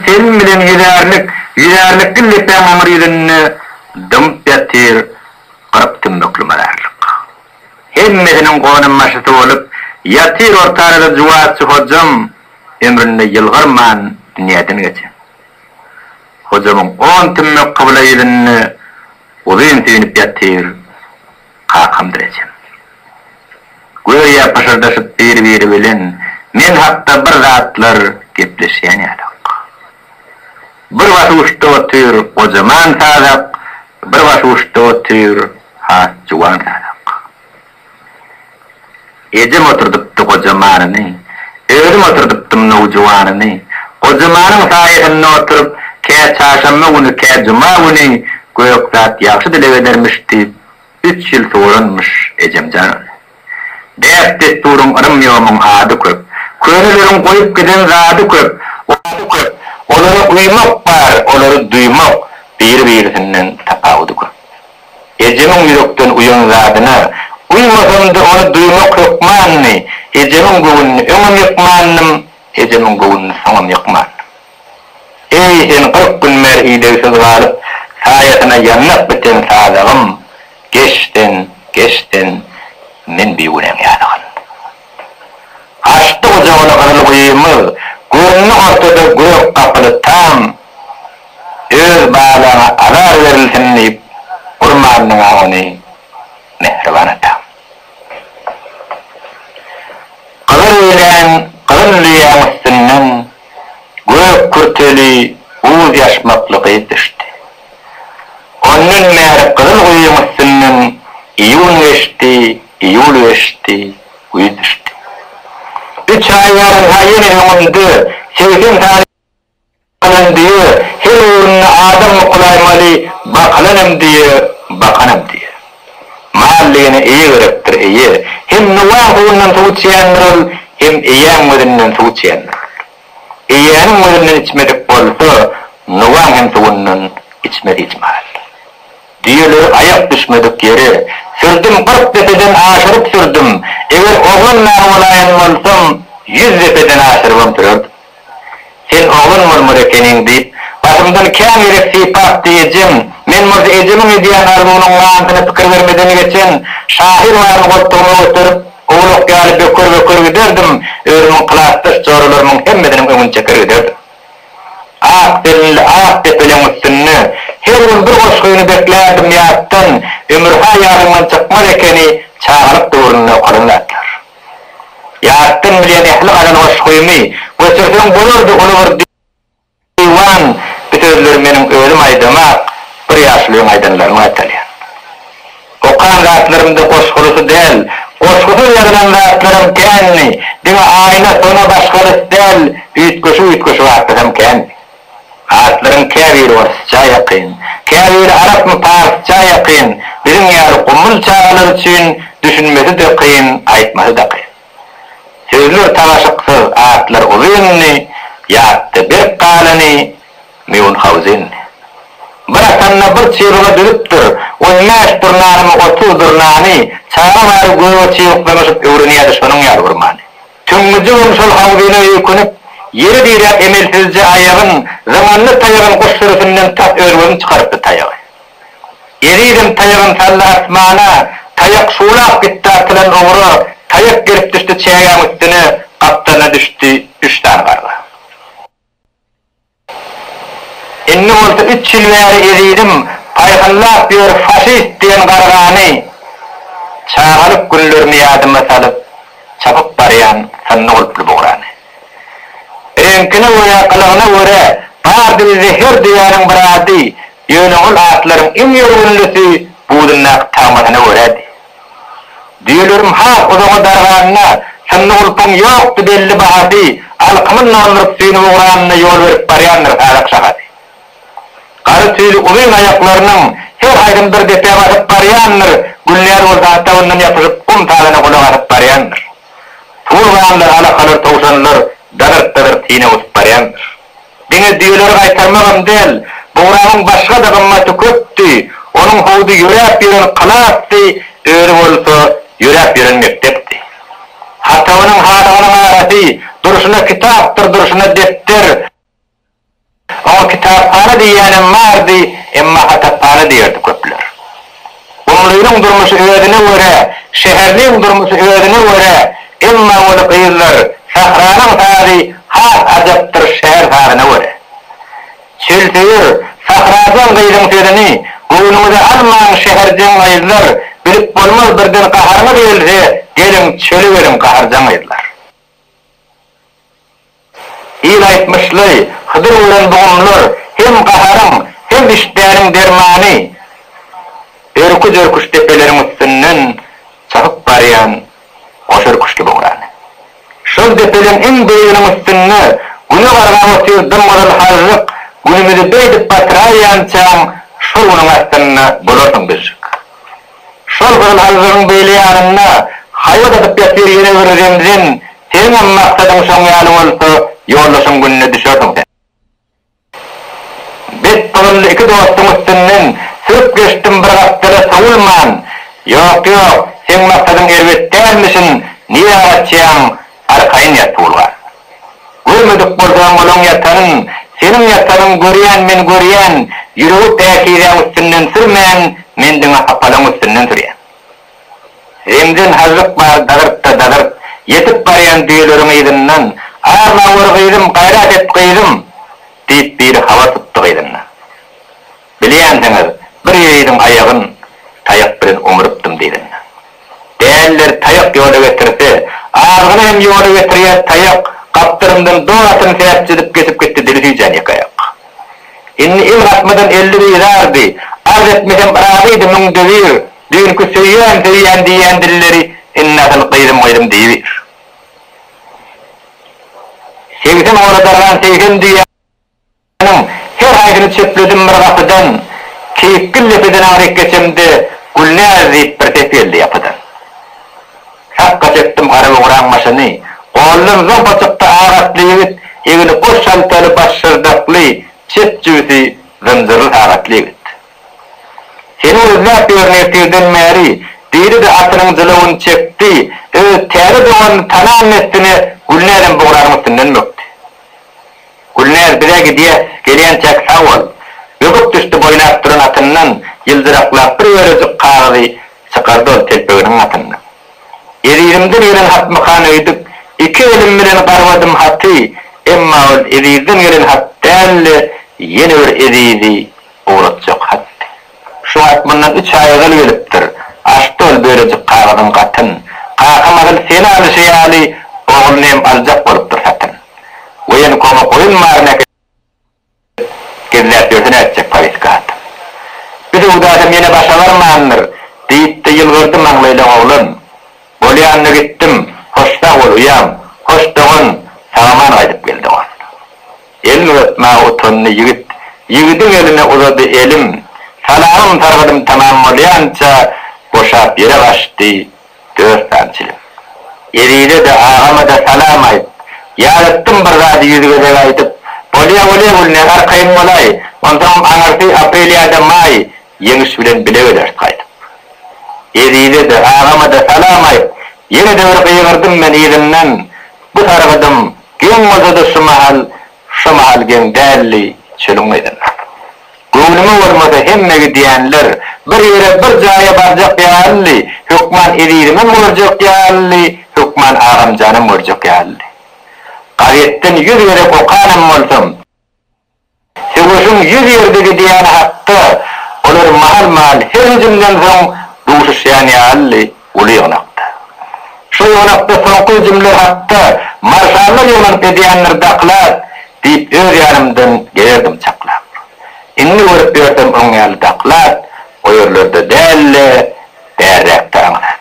Selim bilen ýüzärlik, ýüzärlikli lepäň aňry ýüzünde dymyp ýatyr kyrk tümmükli mazarlyk. Hemmesiniň gonambaşysy bolup ýatyr ortarada Juwazçy Hojam, ömründe ýylgyrman dünýäden geçen. Hojamyň on tümmek kybla ýüzünde uzyn süýnüp ýatyr kakamdyr ejem. Göýä pyşyrdaşyp bir-biri bilen men hakda bir zatlar gepleşýän ýalyk. Bir başuçda otyr gojaman sazak, bir başuçda otyr has juwan sazak. Ejem oturdypdy goja manyny, Özüm oturdypdym nowjuwanyny. Goja manyň saýasynda oturyp, Kä çarşanba güni, kä juma güni Gök zat ýagşy dileg edermiş diýip, Üç ýyl suwaranmyş ejem jan ony. Däp-dessuryň yrym-ýomyň ady köp, Köneleriň goýup giden zady köp, Ady köp, olary uýmak bar, olary duýmak, Biri-birisinden tapawudy köp. Ejemiň ýürekden uýan zadyna Uýmasam-da ony duýmak hökmandy, Ejemiň göwnüni öňem ýykmandym, Ejemiň göwnüni soňam ýykmandym. Eý, sen kyrk gün bäri idegsiz galyp, Saýasyna ýanlap biten sazagym, Geç sen, geç sen, men bigünäň ýazygyn. Açdy gujagyny gyzyl guýymyz, Göründi ortada gök gapyly tam, Öz balaňa azar berilsin diýip urmandyň-a ony, mähriban atam. Gyzyl ýeleň, gyzyl düýäň üstünden gök kürteli, uz ýaşmakly gyz düşdi. Ondan bäri gyzyl guýyň üstünden iýun geçdi, iýul geçdi, güýz düşdi. Üç aý barynha ýene öňümde segsen sany. Bakylan düýe her öwründe adam mukulaý maly bakylan hem düýe, bakan hem düýe. Mal diýene eýe gerekdir, eýe. Hem Nuwaň suwundan suw içýändir ol, hem eýäň gözünden suw içýändir ol. Eýäniň gözünden içmedik bolsa, Nuwaň hem suwundan içmez hiç mahal. Düýeleri aýak düşmedik ýere sürdüm, kyrk depeden aşyryp sürdüm. Eger oglanman bolaýan bolsam, ýüz depeden aşyrybam sürerdim. Sen oglan murmur ekeniň, diýip, başymdan kän gezek sypapdy ejem. Men bolsa ejemiň edýän arzuwynyň manysyna pikir bermeden geçen şahyr baryn goltugyma göterip, owlak ýaly böker-böker giderdim, özümiň klasdaş joralarymyň hemmesiniň öňüni çeker giderdim. Ak zeminli ak depeleň üstünde her gün bir goşgyny beklärdim ýatdan, ömür-ha ýadymdan çykmaz ekeni çagalyk döwründe okalan zatlar. Ýatdan bilýän ähli gazal goşgymy göçürseň bolardy uly bir diwan bu sözleri meniň özüm aýdamak bir ýaşulyň aýdanlaryny gaýtalýan. Okan zatlarymda goşgulysy däl goşgusyz ýazylan zatlaram kändi diňe aýna sona başgalys däl üýtgeşik üýtgeşik atlasam kändi. Atlaryň käbiri orsça ýakyn, käbiri arapmy, parsça ýakyn, biziň ýaly gumul çagalar üçin düşünmesi-de kyn, aýtmasy-da kyn. Sözler tagaşyksyz, atlar uzyndy, ýatda berk galany Mýunhauzendi. Bir atanda bir çybyga düzüpdir, on bäş durnanymy, otuz durnany, çaga bary göge çybyklanyşyp öwrenýärdi, şonuň ýaly bir many. Süňňüjigem şol howlyna öýkünip, ýere diräp emelsizje aýagyn, zyňanly taýagyn guş sürüsinden tas özgün çykarypdy taýagy. Ezizem taýagyn saldy asmana, taýak şuwlap gitdi atylan ugra, taýak gelip düşdi çägäň üstüne, gapdalyna düşdi üç sany garga. Indi bolsa üç ýyl bäri ezizim paýhallap ýör faşist diýen gargany, çagalyk günlerimi ýadyma salyp çapyp barýan synly gulply bugrany. Reňkine we gylygyna görä bardy bizde her düýäniň bir ady, ýöne ol atlaryň iň ýörgünlisi budundaky tagmasyna görädi. Düýeleriň has uzaga darganyna synly gulpuň ýokdy belli bahasy alkymyň naldyryp süýnüp ugranyna ýol berip barýandyr sazak şahasy. Gara tüýli uzyn aýaklarynyň her haýsyn bir depä basyp barýandyr Gülnäz bolsa atabyndan ýapyşyp gum tazyna gulak asyp barýandyr. Suwulganlar, alakalar, towşanlar dazyrt-dazyrt syna gusup barýandyr. Diňe düýeleri gaýtarmagam däl, Bugrabyň başga-da gymmaty köpdi, onuň howdy ýöräp ýören klasdy, özi bolsa ýöräp ýören mekdepdi. Hatabynyň halygynyň arasy durşuna kitapdyr, durşuna depder. Oňa kitaphana diýýänem bardy, emma hataphana diýerdi köpler. Oglunyň durmuşy özüne görä, şäherniň durmusy özüne görä, emma ony gyzlar, Sahranyň sazy has ajapdyr şäher sazyna görä. Çölsöýer, Sahrajan gyzyň sözüni göwnüňize almaň şäherjeň gyzlar, bilip bolmaz birden gaharyňyz gelse, geliň çöle geliň gaharjaň gyzlar. Hil aýtmyşly, Hydyr bilen dogumlar hem gaharyň, hem işdäniň dermany. Örküz-örküz depeleriň üstünden çykyp barýan goşörküçli bograny. Şol depeleň iň beýiginiň üstünde Güne gargap otyr dym-gyzyl hažžyk, Günümizi beýdip batyraýýançaň, şol günüň astynda bolarsyň bizjik. Şol bir manzylyň beýle ýanynda haýbat atyp ýatyr ýene bir zemzen, Seňňem maksadyň şoň ýaly bolsa, ýoldaşyň gününe düşerdiň sen. Bet pygylly iki dostuň üstünden sürüp geçdim bir gapdala sowulman, Ýok, ýok, seň maksadyň erbet dälmişin, nirä gaçýaň, arkaýyn ýat, Tuwulgan. Görmedik bolsaň olaň ýatanyn, seniň ýatanyn görýän men görýän, ýüregi päkizäň üstünden sürmän, men diňe hapalaň üstünden sürýän. Zemzen hajyk bar dagyrt-da dagyrt, ýetip barýan düýeleriň yzyndan, Arlap ör gyzym, gaýrat et gyzym! diýip biri habar tutdy gyzyndan. Bilýänsiňiz, bir ýigidiň aýagyn taýak bilen oňarypdym diýdim. Dälileri taýak ýola getirse, azgyny hem ýola getirýär, taýak gapdalymdan dodasyny säpjedip geçip gitdi, dili süýjän ýeke aýak. Indi il gatmadan elli bizardy, arz etmesem yrazydy, müňde bir, düýnki söýýän, söýýän diýýän dilleri indi asyl gyzym, gyzym diýibir. Segsen ora dargan segsen düýä. Onuň her haýsyny çepledim bir gapydan, Keýikgül depeden aryp geçemde, Gülnäz diýip bir ses geldi ýapydan. Sakga çekdim gara bugraň başyny, Goldan zompa çykdy ak atly ýigit, Egni goş haltaly, baş şyrdakly, Çep jübüsi zynjyrly sagatly ýigit. Seni gözläp ýörün ertirden bäri, Diýdi-de atynyň jylawyny çekdi, Öz täze doganyny tanan dessine Gülnäzem bugranyň üstünden bökdi. Gülnäz bize gidýä gelýänçäk sag bol. Böküp düşdi boýlap duran atyndan ýyldyraklap bir bölejik kagyzy çykardy ol telpeginiň gatyndan. Ezizimden gelen hatmykan öýdüp iki elim bilen garbadym haty emma ol Ezizden gelen hat däldi ýene bir Ezizi ugratjak hatdy. Şu wagt mundan üç aý ozal gelipdir. Açdy ol bölejik kagyzyň gatyn. Kaka mahyl seni alyşy ýaly, ogluny hem aljak bolupdyr satyn. Woýenkowyň goýun malyny äkidip, gizläp ýörse nätjek powestki hatyn. Bir söwdasam ýene başa barmandyr, diýip-de ýylgyrdy maňlaýlaň oglan. Bolýanda gitdim, hoş sag bol, uýam, hoş dogan, sag-aman gaýdyp gel dogan. Elin uzatma utandy ýigit. Ýigidiň eline uzady elim. Salamym sargadym tamam bolýança boşap ýere gaçdy dört sany çilim. Ezize-de, agama-da salam aýt. Ýadatdym bir zady ýüz gezek aýdyp. Bolýa, bolýa Gülne, arkaýyn bolaý. Onsoňam aňyrsy aprel ýa-da maý Ýeňiş bilen bile geleris gaýdyp. Ezize-de, agama-da salam aýt. Ýene-de bir gygyrdym men yzyndan. Bu sargadym Geň bolsa-da şu mahal şo mahal geň däldi, çölüň gyzyn. Göwnüme bolmasa hemme gidýänler bir ýere bir jaýa barjak ýalydy, hökman ezizimem görjek ýalydy, hökman agamjanam görjek ýalydy. Gazetden ýüz gezek okanam bolsam. Söweşiň ýüz ýerde gidýäni hakda olar mahal-mahal her hüjümden soň duşuşýan ýalydy, uly ýygnakda. Şo ýygnakda soňky hüjümler hakda marşallar ýygnanyp edýändir daklak diýip öz ýanymdan geýerdim çaklap. Indi görüp ýörsem oň ýaly daklak o ýerlerde däldi, bärräkde aňsat.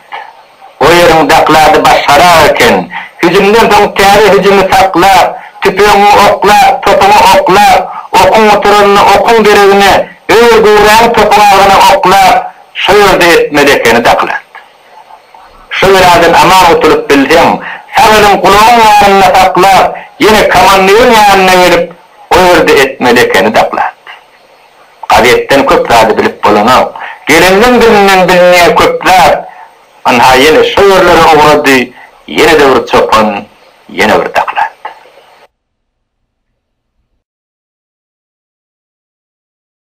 O ýeriň daklady başgarak eken. Hüjümden soň täze hüjümi saklap, tüpeňiňi oklap, topuňy oklap, okuň gutaranyna okuň deregine öwür-göwräni topuň agzyna oklap, şo ýerde etmeli ekeni daklad. Şo beladan aman gutulyp bilseň, sag eliň gulagyň ýanynda saklap, ýene komandiriň ýanyna gelip, o ýerde etmeli ekeni daklad. Gazetden köp zady bilip bolanok. Geleniň dilinden bilinýär köp zat. Ynha ýene şo ýerlere ugrady, ýene-de bir çopan, ýene bir doklad.